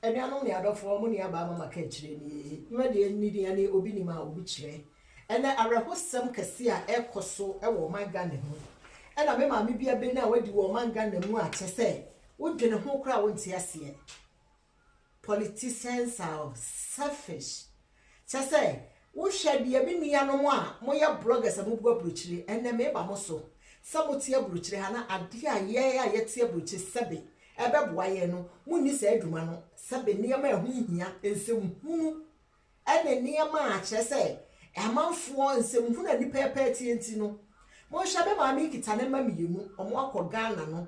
Anuanom ne adɔfoɔ, mo nuabaa Mama Kaakyire nie. Nyɛ deɛ nni deɛ ne obi nim a obi kyerɛ. Ɛnnɛ awerɛhosɛm kɛseɛ a ɛrekɔ so wɔ ɔman Ghana mu. Ɛna me maame bi abɛn a wadi wɔ ɔman Ghana mu a kyɛ sɛ wo dwene ho koraa a wonte aseɛ. Politicians are selfish Kyɛ sɛ, wohwɛ deɛ me nuanom a moyɛ bloggers a mobu aburokyire, ɛnnɛ meba mo so sɛ mote aburokyire ha na adeɛ a yɛn a yɛte aburokyire sɛbe ɛbɛboa yɛn no, monni saa dwuma no, sɛbe nneɛma a ɛho nhia, nsɛm hunu ne nneɛma a kyerɛ sɛ amanfoɔ nsɛm hunu a nnipa ɛpɛ atie nti no. Monhwɛ, me maame kita ne mma mmienu, wɔakɔ Ghana no,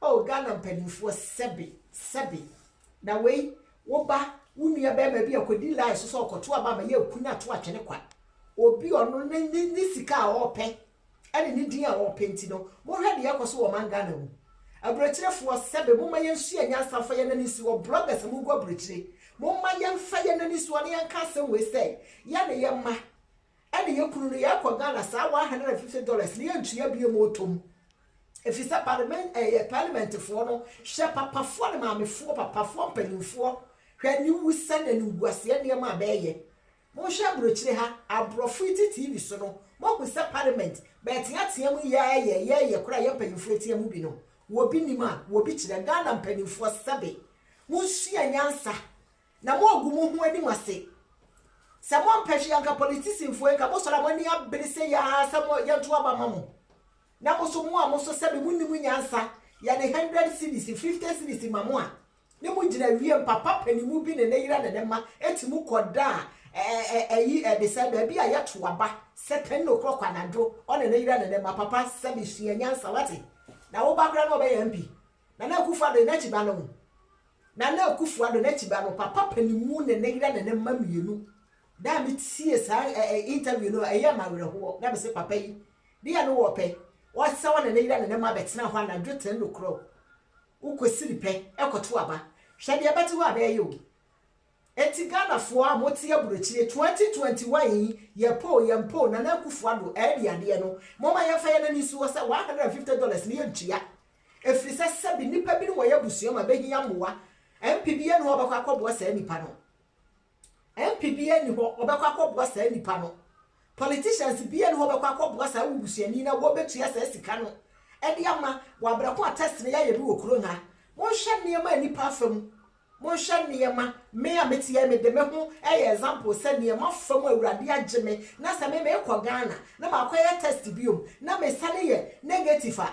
Oh Ghana mpaninfoɔ sɛbe sɛbe na wei wo ba wo nua bɛɛma bi ɔkɔdi line so sɛ ɔkɔto aba ama yɛ aku no ato atwene kwa obi ɔno ne ne ne sika a ɔɔpɛ ɛne ne din a ɔɔpɛ nti no mohwɛ deɛ ɛkɔ so wɔ ɔman Ghana mu aburokyerefoɔ sɛbe momma yɛn sua nyansa mfa yɛn nani si wɔ bloggers a mo gu aburokyire momma yɛn fa yɛn nani soɔ ne yɛn ka asɛm wei sɛ yɛne yɛn mma ɛne yɛ kunu no yɛkɔ Ghana saa one hundred and fifty dollars no yɛntua biom ɔtɔ mu ɛfisɛ parliament ɛyɛ parliament foɔ no hyɛ papafoɔ ne maamefoɔ papafoɔ mpanyinfoɔ hwɛ ne wu sɛne animguaseɛ nneɛma a bɛɛyɛ monhwɛ aburokyire ha aborɔfo yi te TV so no moahu sɛ parliament bɛɛteatea mu yɛɛyɛ yɛɛyɛ kora yɛ mpanyinfoɔ atia mu bi no wɔbi nim a wɔbi kyerɛ Ghana mpanyinfoɔ sɛbe monsua nyansa Na mo agu mo ho anim ase. Sɛ mo ampɛ hwee anka politician foɔ yi nka mo sɔre a mo ani abere sɛ yɛ aa sɛ mo yɛ nto aba ma mo. Na mo so mo a mo so sɛbi mo nnim nyansa yɛ de hundred cedis, fifty cedis ma mo a ne mo gyina wiem papa panimu bi ne ne yere ne ne mma ɛti mo kɔ da a ɛɛ ɛyi ɛde sɛ baabi a yɛ to aba sɛ ten o'clock anadwo ɔne ne yere ne ne mma papa sɛbi sua nyansa wate na wo ba kora na ɔbɛyɛ MP Nana Akufo-Addo n'akyi ba no Nana Akufo-Addo n'akyi ba no papa panimu ne ne yere ne ne mma mmienu Da a metiee saa ɛ ɛ interview no ɛyɛɛ me awerɛhoɔ na mese papa yi deɛ ne wɔpɛ Ɔsan ɔne ne yere ne ne mma bɛtena hɔ anadwo ten no korɔ Wokɔ siri pɛ kɔto aba Hwɛ deɛ ɛbɛte hɔ a bɛɛye o Enti Ghanafoɔ a mote aburokyire, twenty twenty one yi, yɛpoo yɛmpoo, Nana Akuffo Addo adi adeɛ no, momma yɛmfa yɛn ani nsi hɔ sɛ one hundred and fifty dollars no yɛntua. Ɛfirisɛ sɛbi nnipa binom wɔ yɛn abusua mu a bɛhia mmoa. MP biara nni hɔ a ɔbɛkɔ akɔboa saa nnipa no. MP biara nni hɔ ɔbɛkɔ akɔboa saa nnipa no. Politicians biara nni hɔ ɔbɛkɔ akɔboa saa wo busuani no a wɔbɛtua saa sika no de ama wɔ abrɛ ko a test no yɛayɛ bi wɔ kurom ha. Monhwɛ nneɛma a nnipa afa mu. Monhwɛ nneɛma, me a mete ha yi mede me ho yɛ example sɛ nneɛma fa mu awurade agye me na sɛ me mekɔ Ghana na makɔyɛ test bio na mesane yɛ negative a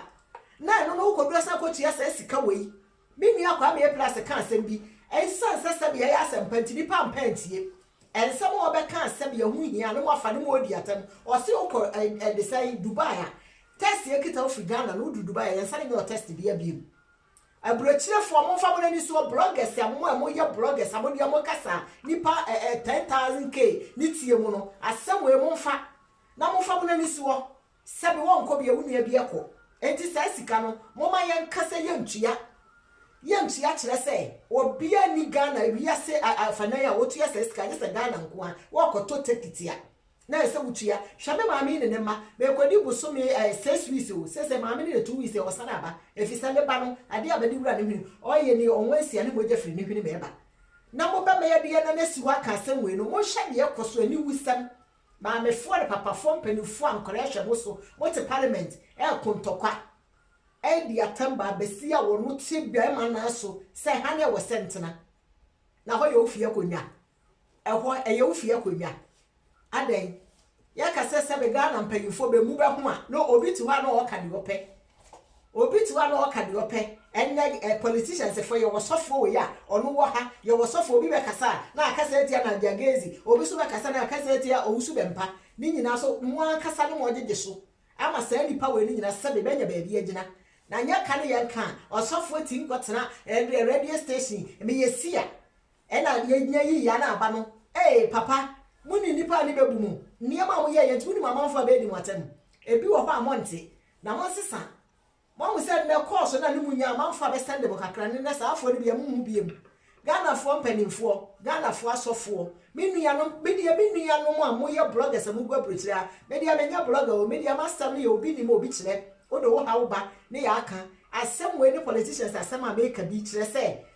na ɛno no wokɔduru asan akɔtua saa sika wei me nua Kwame Apilas ka asɛm bi ɛnsiane sɛ sɛdeɛ ɛyɛ asɛmpa nti nipa ampɛ antie ɛnsɛm a ɔbɛka sɛdeɛ ho hia no moafa ne mu ɔdi atam ɔse wokɔ ɛde sɛn Dubai a test yɛkita wo firi Ghana no woduru Dubai a yɛnsane nyɛ ɔtest bia bio Aburokyirefo a wɔmfa wɔn ani soɔ, bloggers a mo a moyɛ bloggers a mo deɛ mo kasa nipa eh eh ten thousand k ne tie mo no asɛm wei monfa na monfa mo ani soɔ sɛbi wɔnkɔ bia wo nua bi ɛkɔ enti saa sika no moma yɛnka sɛ yɛntua yɛntua kyerɛ sɛ obia ni Ghana wiase a a fanan a otua saa sika nyɛ sɛ Ghana nkoa wɔkɔtɔ tekiti a na ɛsɛ sɛ wotua. Hwɛ me maame yi ne ne mma, merekɔdi bosome six weeks o, seesei maame no yɛ two weeks, ɔsan aba, efisɛ ne ba no, adeɛ a bɛde wura ne hwene, ɔye ne ɔnwansia ne mogya firi ne hwene mu ɛba. Na mobɛmɛe adeɛ no ano asi hɔ aka asɛm wei no, monhwɛ deɛ ɛkɔ so, aniwusɛm. Maamefoɔ ne papafoɔ mpanimfoɔ a nkwadaa hwɛ mo so, mote parliament ɛreko ntɔkwa, ɛredi atɛm baa basia a ɔno te barima nan so sɛ ha ne ɛwɔ sɛ ntena, na hɔ yɛ wo fie akonnwa. Ɛhɔ ɛyɛ wo fie akonnwa. Adɛn? Yɛka sɛ sɛbe Ghana mpanyimfoɔ bɛmmu bɛ ho a, na obi te hɔ a na ɔɔka deɛ ɔpɛ. Obi te hɔ a na ɔɔka deɛ ɔpɛ. Ɛnnɛ eh, politicians foɔ, yɛwɔ sɔfoɔ wei a, ɔno wɔ ha. Yɛwɔ sɔfoɔ, obi bɛkasa a, na aka sɛ atia Nandi Agezi. Obi nso bɛkasa na aka sɛ atia Owusu Bɛmpa. Ne nyinaa nso, mo ankasa ne moɔgyegye so ama saa nnipa wei no nyinaa sɛbe bɛanya baabi agyina. Na nyɛ ka ne yɛnka a, ɔsɔfoɔ tumi kɔtena eh, radio station, meyɛ sia. Ɛna deɛ nya yii ya no aba no ee papa mo ne nipa a ne bɛbu mo nneɛma a mo yɛɛyɛ nti mo nim amanfoɔ a bɛɛdi mo atɛm ebi wɔ hɔ a mo nte na mo nsesa mo ahu sɛ nnɛ kɔɔso na ne mo nya amanfoɔ a bɛ sɛnde mo kakra ne nnɛ saafoɔ no bia mo nhu biam Ghanafoɔ mpaninfoɔ Ghanafoɔ asɔfoɔ me nua nom me deɛ me nua nom a mo yɛ blɔgɛs a mo gu abrokyire a me deɛ me nyɛ blɔgɛ o me deɛ masɛm no yɛ obi nim a obi kyerɛ wode wo haw ba ne yɛ aka asɛm wei ne politicians asɛm a meka bi kyerɛ sɛ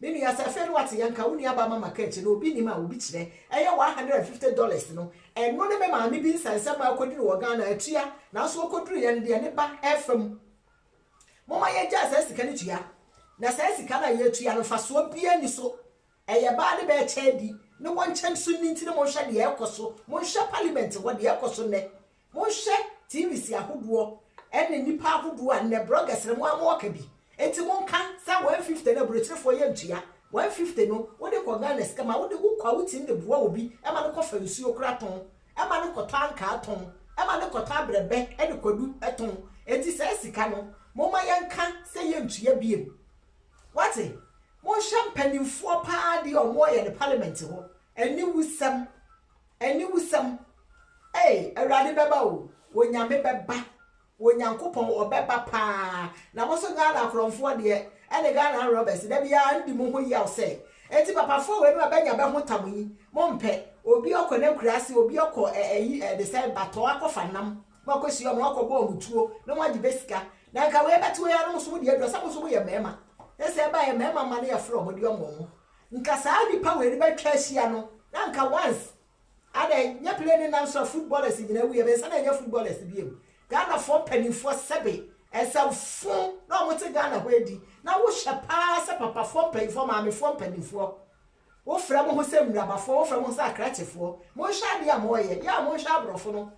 Me nua sɛ afei no wate yɛ anka wo nua ba mama ka akyi no obi nim a obi kyerɛ ɛyɛ one hundred and fifty dollars no ɛno ne me maame bi nsa nsɛm a ɛkɔduru wɔ Ghana atua nanso ɔkɔduru yɛ no deɛ ne ba ɛfa mu moma yɛ gyaa saa sika no tua na saa sika no a yɛtua no mfasoɔ bia ni so ɛyɛ baa ne bɛɛ kyɛ adi ne wɔnkyɛm so ni nti no monhwɛ deɛ ɛkɔ so monhwɛ parliament hɔ deɛ ɛkɔ so nnɛ Monhwɛ TVs ahodoɔ ne nnipa ahodoɔ a nnɛ brɔgɛs no mo ara mowɔ ka bi. Enti monkan saa one fifty no aburokyerefoɔ yɛ ntua. One fifty no wode kɔ Ghana sika ma wode wokɔ a wotumi de boa obi ma no kɔfa nsuo kora tɔn, ma no kɔtɔ ankaa tɔn, ma no kɔtɔ abrɛbɛ ne kwadu tɔn. Enti saa sika no momma yɛnka sɛ yɛntua biom. Woate? Monhwɛ mpaninfoɔ paa deɛ wɔyɛ no parliament hɔ. Aniwusɛm. Aniwusɛm, Ei, Awurade bɛba o, Onyame bɛba, Onyankopɔn ɔbɛba paa, na mo nso Ghana akorɔmfoɔ deɛ ɛne Ghana robbers da biara ndi mo ho yaw sɛ enti papafoɔ wei nom a bɛnya bɛho tam yi mo mpɛ, obi ɔkɔ n'akuraase, obi ɔkɔ ɛ ɛyi ɛ de sɛ batɔ akɔfa nam, mo akɔhyia wɔn akɔbɔ wɔn tuo na mo agye bɛ sika, na nka wei bɛte wei anom nso mo deɛ aduro sɛ mo nso mo yɛ mmarima, na sɛ ɛba yɛ mmarima mma no yɛfrɛ wɔn de wɔn wɔn ho, Nka saa nipa wei no bɛtwa ahyia no na nka once adɛn nyɛ play ne nam so a footballers nyinaa wu yɛbɛnsa na ɛnyɛ footballers biom Ghanafoɔ mpaninfoɔ sɛbe ɛnsɛm fo na ɔmo te Ghana hɔ ɛdi na wo hyɛ paa sɛ papafoɔ mpaninfoɔ maamefoɔ mpaninfoɔ wo frɛ mo ho sɛ mmrabafoɔ wo frɛ mo ho sɛ akrakyefoɔ mo nhwɛ adeɛ a mo ɔyɛ yɛ a mo nhwɛ aborɔfo no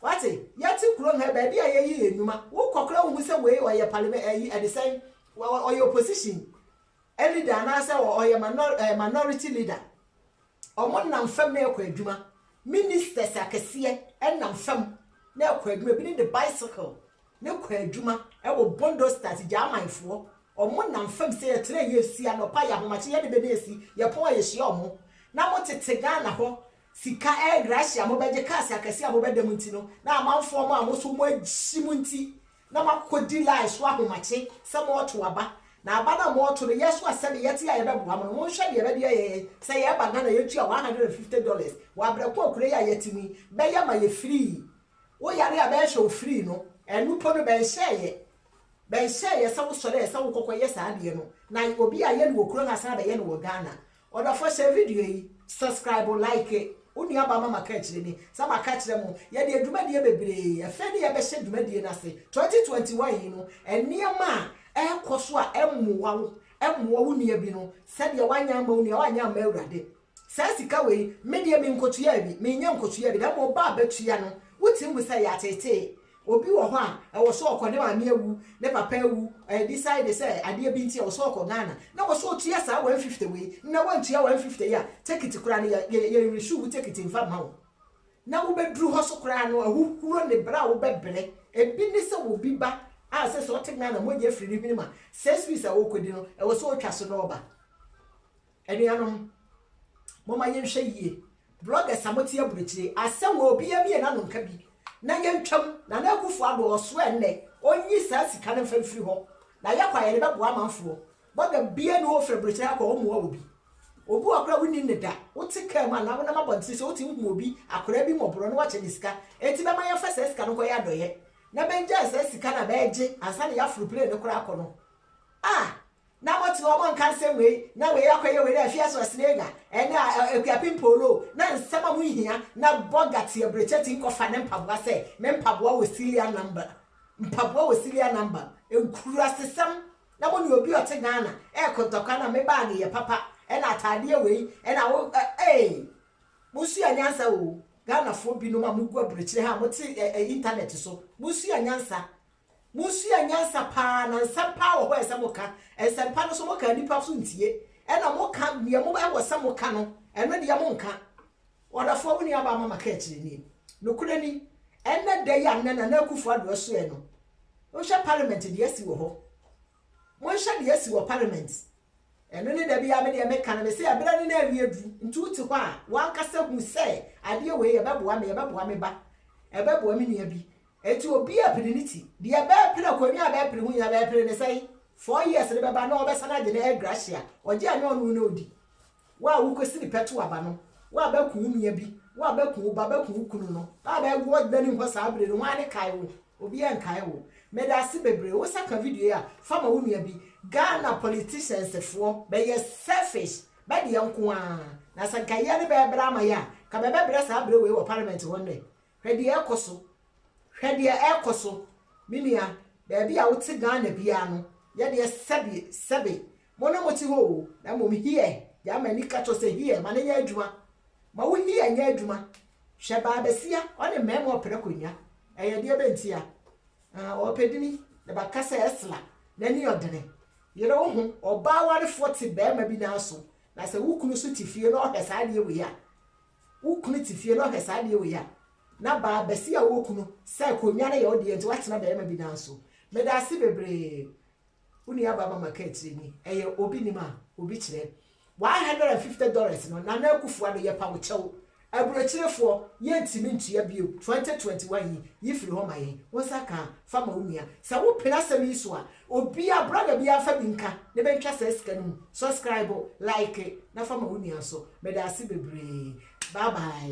wate yɛ te kurom ha baabi a yɛ yi yɛ nnwuma wo kɔkora wo ho sɛ wei ɔyɛ palima ɛyi ɛdesɛn ɔyɛ opposition leader anaasɛ ɔyɛ minority leader, wɔn nam fam na ɛkɔ adwuma, ministers akɛseɛ ɛnam fam na ɛkɔ adwuma, ebi ne de bicycle ne kɔ adwuma ɛwɔ Bondostad, Gyamanfoɔ, wɔn nam fam sɛ yɛtena yɛ si anɔpa, yɛ ahomakye yɛde bɛ no asi, yɛ pɔn a yɛhyia wɔn, na mo tete Ghana hɔ sika ɛyɛ Russia mo bɛgye cars akɛseɛ a mo bɛda mu nti no, na amanfoɔ mo a mo nso mo agyi mo nti na makɔdi line so ahomakye sɛ mɔɔto aba, na aba no a mɔɔto no yɛso a sɛdeɛ yɛte a yɛbɛboa mo no, monhwɛ deɛ ɛbɛde ayɛ yɛn sɛ yɛba Ghana yɛtua one hundred and fifty dollars wɔ abrɛ ko akura yi a yɛte mu yi bɛyɛ ma yɛ free, wo yare a bɛhwɛ wo free no, ɛno po no bɛnhyɛɛ yɛ bɛnhyɛɛ yɛ sɛ wosɔre a ɛsɛ wokɔ kɔyɛ saa adeɛ no, na obi a yɛ no wɔ kuro ha san abɛyɛ no wɔ Ghana, Ɔdɔfoɔ hyɛ video yi subscribe like wo nua baa ma maka akyire ni sɛ maka akyerɛ mo yɛde adwumadie bebree ɛfɛ ne yɛbɛhyɛ dwumadie no ase 2021 yi no nneɛma a ɛrekɔ so a ɛmmoa wo ɛmmoa wo nua bi no sɛdeɛ wanyɛ amma wo nua wanyɛ amma awurade saa sika wei medeɛ menkɔtuaa bi mennya nkɔtuaa bi na mmom ɔbaa bɛtua no wotim mu sɛ yɛatetee Obi wɔ hɔ a, ɛwɔ sɛ ɔkɔ, ne maame awu, ne papa awu, ɔyɛ decide sɛ adeɛ bi nti ɛwɔ sɛ ɔkɔ Ghana, na ɛwɔ sɛ ɔtua saa one fifty wei, na wantua one fifty yi a, tekiti koraa no, yɛ, yɛ reissue wo tekiti mfa mma wo. Na wobɛduru hɔ so koraa no, ahuhuro ne brɛ a wobɛbrɛ. Ebi ne sɛ obi ba a, sɛ, sɛ ɔte Ghana, mogya firi ne hwene mu a, six weeks a ɔrekɔdi no, ɛwɔ sɛ ɔtwa so na ɔba. Anuanom, momma yɛnhwɛ yie. Bloggers a mote aburokyire, asɛm a obiara mmie n'ano nka bi na yɛntwam. Nana Akuffo Addo ɔso ɛ nnɛ, ɔnyi saa sika no mfa mfiri hɔ. Na yɛkɔ a yɛde bɛboa amanfoɔ. Blogger biara nni hɔ ɔfiri aburokyire ha kɔ a ɔmmoa obi. Obi wɔ hɔ koraa a wonnim no da. Wote kaa mu anaa wonam abɔntene so a wotumi hu obi, akwadaa bi mmɔborɔ na woakyɛ no sika. Enti bɛma yɛmfa saa sika no nkɔyɛ adɔeɛ na bɛngyae saa sika no a bɛregye ansa na yɛaforo plane no koraa akɔ no. Ah! Na mote hɔ mo nka nsɛm wei, na wei akɔyɛ wei, na afia so asnega, ɛne a, ɛ, akuapem poolo, na nsɛm a monhia, na bɔga teɛ brekyɛ ti nkɔfa ne mpaboa sɛ, me mpaboa wɔ silia namba, mpaboa wɔ silia namba, nkurasesɛm, na mo ne obi ɔte Ghana, ɛɛkɔ ntɔkwa na me baa ne yɛ papa, ɛna ataadeɛ wei, ɛna wo, ɛ, ee, monsua nyansa oo, Ghanafoɔ binom a mogu abrekyire ha a mote, ɛ, ɛ, internet so, monsua nyansa, Mosua nyansa paa na nsɛm paa wɔ hɔ a ɛsɛ moka. Nsɛmpa no so moka a nnipa so ntie. Ɛna moka deɛ mo ɛwɔ sɛ moka no, ɛno deɛ monka. Ɔdafoa wo nuabaa Mama ka akyire nie. Nokorɛ ni, ɛnnɛ da yi a nnɛ Nana Akuffo Addo ɛsoɛ no, wohwɛ parliament deɛ asi wɔ hɔ. Monhwɛ deɛ asi wɔ parliament. Ɛno ne da biara me deɛ meka no, mese ɛberɛ no na awie duru. Nti wote hɔ a, wankasa hu sɛ adeɛ wei ɛbɛboa me, ɛbɛboa me ba, ɛbɛboa me nua bi. Enti obiaa pene ne ti. Deɛ bɛɛpene akonnwa a bɛɛpene ho nyinaa bɛɛpene ne sɛn? Four years no bɛba na ɔbɛsane agye ne Air Gracia ɔgye a ne ɔno na odi. Wo a wo kɔsini pɛ to aba no, wo a bɛku wo nua bi, wo a bɛku wo ba, bɛku wo kunu no, wo a bɛɛgu wo danim hɔ saa bere no hwan ne kae wo? Obiaa nkae wo. Medase bebree. Wo sa ka video yi a, fa ma wo nua bi. Ghana politicians foɔ, bɛyɛ selfish. Bɛdeɛ nko ara. Na sɛ nka yɛne bɛɛbrɛ ama yɛ a, nka bɛɛbɛbrɛ saa bere wei wɔ parliament hɔ nnɛ. Hwɛ deɛ ɛrekɔ so. Hwɛ deɛ ɛrekɔ so. Me nua, baabi a wote Ghana biara no, yɛ deɛ sɛbe sɛbe. Mo na mote hɔ oo, na mmom here, deɛ ama ani ka kyerɛ wo sɛ here, ma no nyɛ adwuma. Ma wo here nyɛ adwuma. Hwɛ baa basia, ɔne mmarima a wɔpere akonnwa. Ɛyɛ deɛ bɛn ntia? Ah, ɔpɛ dini, na bɛka sɛ Esla, n'ani ɔdene. Yere wo ho, ɔbaa warefoɔ te barima bi nan so, na sɛ wo kunu nso te fie na ɔhwɛ saa adeɛ wei a, wo kunu te fie na ɔhwɛ saa adeɛ wei a, na baa bɛsi a ɔwɔ kunu sɛ akonnwa no yɛ wo deɛ nti woatena barima bi nan so. Meda ase bebree, wo nua baa Mama Ka Akyire ni. Ɛyɛ obi nim a, obi kyerɛ. One hundred and fifty dollars no, Nana Akufo Addo, yɛpa wo kyɛw. Aburokyerefoɔ, yɛntumi ntua bio, twenty twenty one yi, yi firi hɔ ma yɛn. Wo nsa ka a, fa ma wo nua. Sɛ wopene asɛm yi so a, Obia brother biaa fa bi nka ne bɛntwa saa sika no mu subscribe like na fa ma wo nua nso medaase bebree bye bye.